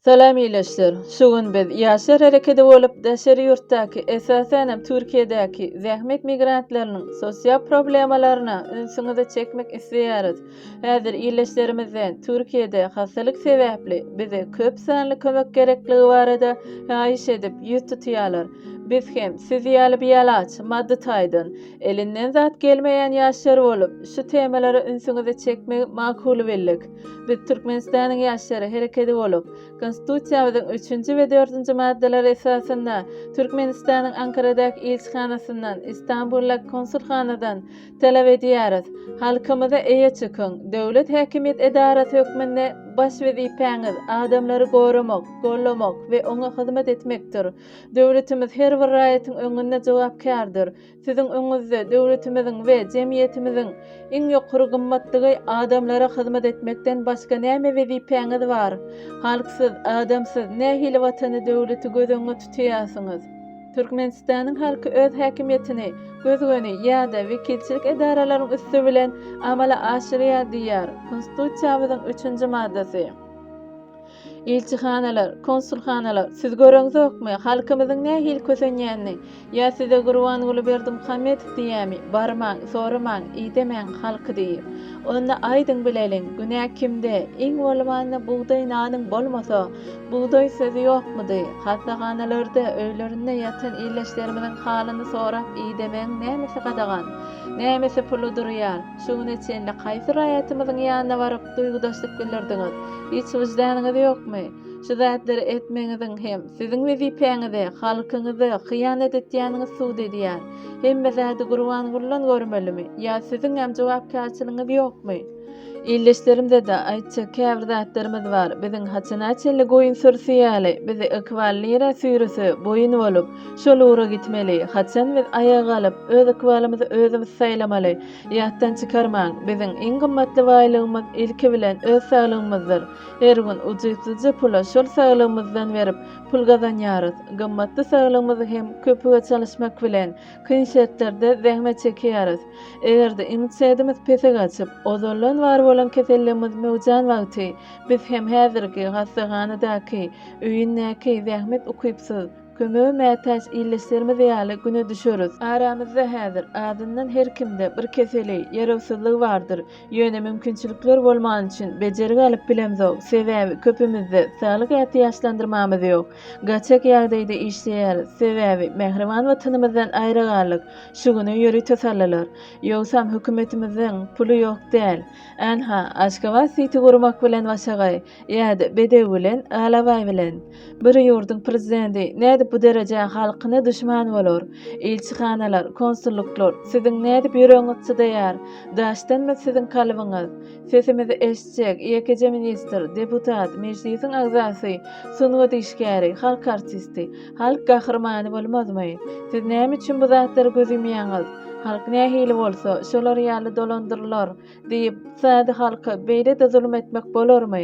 Salam ileçler. Şu gün biz Ýaşlar herekedi bolup daşary ýurtdaky, esasanam Türkiýedäki zähmet migrantlarynyň sosial problemalaryna ünsüňizi çekmek isleýäris. Häzir ileçlerimizden Türkiýede hassalyk sebäpli bize köp sanly kömek gerekligi barada haýyş edip ýüz tutýarlar. Biz hem siz ýaly bialaç, maddy taýdan, Elinden zat gelmeýän ýaşlar bolup, şu temalara ünsüňizi çekmegi makul bildik. Biz Türkmenistanyň ýaşlary herekedi bolup, Konstitusiýamyzyň üçünji we dördünji maddalary esasynda Türkmenistanyň Ankaradaky ilçihanasyndan, Istanbuldaky konsulhanadan talap edýäris, Halkymyza eýe çykyň! Döwlet häkimiýet edarasy hökmünde baş wezipäňiz adamlary goramak, gollamak we oňa hyzmat etmekdir. Döwletimiz her bir raýatyň öňünde jogapkärdir. Siziň öňüňizde döwletimiziň we jemgyýetimiziň iň ýokary gymmatlygy adamlara hyzmat etmekden başga näme wezipäňiz bar? Halksyz, adamsyz nähili Watany, döwleti göz öňüňe tutýarsyňyz? Türkmenistanyň halky öz häkimiýetini göz-göni ýa-da wekilçilik edaralaryň üsti bilen amala aşyrýar diýýär Konstitusiýamyzyň üçünji maddasy. Ilçihanalar, konsulhanalar, siz göreňzokmy, halkymyzyň nähili kösenýänini? Ýa size Gurbanguly Berdimuhamedow diýýämi, barmaň, soramaň, idemäň halky diýip? Onda aýdyň bileliň, günä kimde? Iň bolmanda bugdaý nanyň bolmasa, bugdaý sözi ýokmudy? Hassahanalarda, öýlerinde ýatan illeşlerimiziň halyny sorap idemegiň nämesi gadagan? Nämesi puly durýar? Şu güne çenli haýsy raýatymyzyň ýanyna baryp duýgudaşlyk bildirdiňiz? Hiç wyždanyňyz ýokmy? Şu zatlary etmegiňiziň hem siziň wezipäňize, halkyňyza hyýanat etýäniňiz sud edýär. Hemme zady Gurbangulydan görmelimi? Ýa siziňem jogapkärçiligiňiz ýokmy? Ildeşlerimize-de aýtjak käbir zatlarymyz bar. Biziň haçana çenli goýun sürüsi ýaly, bizi ykbal nirä süýrese, boýun bolup, Şol ura gitmeli. Haçan biz aýaga galyp, öz ykbalymyzy özümiz saýlamaly? Ýatdan çykarmaň, biziň iň gymmatly baýlygymyz, ilki bilen, öz saglygymyzdyr. Her gün ujypsyzja pula şol saglygymyzdan berip, pul gazanýarys. Gymmatly saglygymyzy hem köpüge çalyşmak bilen, kyn şertlerde zähmet çekýäris. Eger-de immunitedimiz pese gaçyp, ozaldan bar bolan keselligimiz möwjan wagty, biz hem häzirki hassahanadaky, öýündäki zähmet ukypsyz, Kömege mätäç ildeşlerimiz ýaly güne düşeris. Aramyzda häzir, azyndan her kimde bir keseli, ýarawsyzlygy bardyr. Ýöne mümkinçilikler bolmany üçin bejergi alyp bilemzok, sebäbi köpümizde saglyk ätiýaçlandyrmamyz ýok. Gaçak ýagdaýda işleýäris, sebäbi mähriban Watanymyzdan aýra galdyk. Şu güne ýörite saldylar. Ýogsam hökümetimiziň puly ýok däl. Ynha, Aşgabat siti gurmak bilen Başagaý, ýa-da Bedew bilen Alabaý bilen. Bir ýurduň prezidenti nädip bu derejä halkyna duşman bolar? Ilçihanalar, konsulluklar, siziň nädip ýüregiňiz çydaýar? Daşdanmy siziň kalbyňyz? Sesimizi eşitjek ýekeje ministr, deputat, mejlisiň agzasy, sungat işgäri, halk artisti, halk gahrymany bolmazmy? Siz näme üçin bu zatlary göz ýumýaňyz? Halk nähili bolsa, şolar ýaly dolandyrylar. Diýip, Sadi halka beýle-de zulum etmek bolarmy?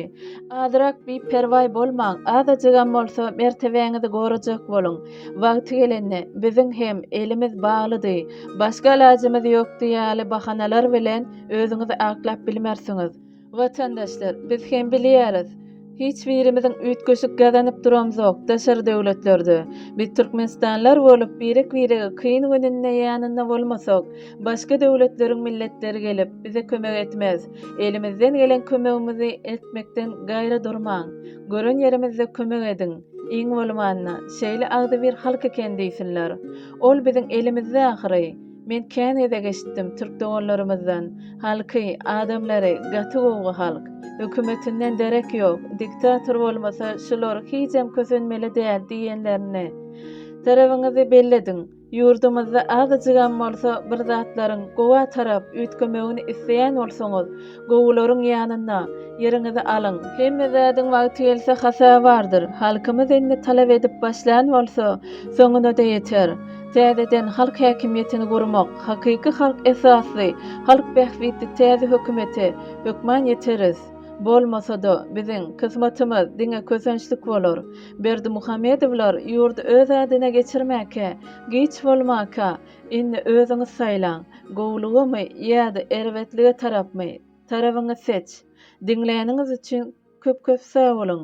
Azyrak biperwaý bolmaň, azajygam bolsa mertebäňizi gorajak boluň. Wagty gelende, biziň hem elimiz baglydy, başga alajymyz ýokdy ýaly bahanalar bilen özüňizi aklap bilmersiňiz. Watandaşlar, biz hem bilýäris. Hiç birimiziň üýtgeşik gazanyp duramzok, daşary döwletlerde. Biz türkmenistanlar bolup, birek-birege kyn gününde ýanynda bolmasak, başga döwletleriň milletleri gelip, bize kömek etmez. Elimizden gelen kömegimizi etmekden gaýra durmaň. Gören ýerimizde kömek ediň. Iň bolmanda, şeýle agzybir halk eken diýsinler. Ol biziň elimizde ahyry. Men kän gezek eşitdim türk doganlarymyzdan, Halky, adamlary gaty gowgy halk. Hökümetinden derek ýok, diktator bolmasa şular hijem kösenmeli däl diýenlerini. Tarabyňyzy bellediň. Ýurdumyzda azajygam bolsa bir zatlaryň gowa tarap üýtgemegini isleýän bolsaňyz, Gowularyň ýanynda, Ýeriňizi alyň! Hemme zadyň wagty gelse hasa bardyr. Halkymyz indi talap edip başlan bolsa, soňuna-da ýeter. Täzeden halk häkimiýetini gurmak, hakyky halk esasly, halk bähbitli täze hökümete hökman ýeteris. Bolmasa-da, biziň, kysmatymyz diňe kösençlik bolar. Berdimuhamedowlar ýurdy öz adyna geçirmäkä, giç bolmaka, Indi özüňiz saýlaň, gowulygamy ýa-da erbetlige tarapmy? Tarabyňy seç. Diňläniňiz üçin köp-köp sag boluň!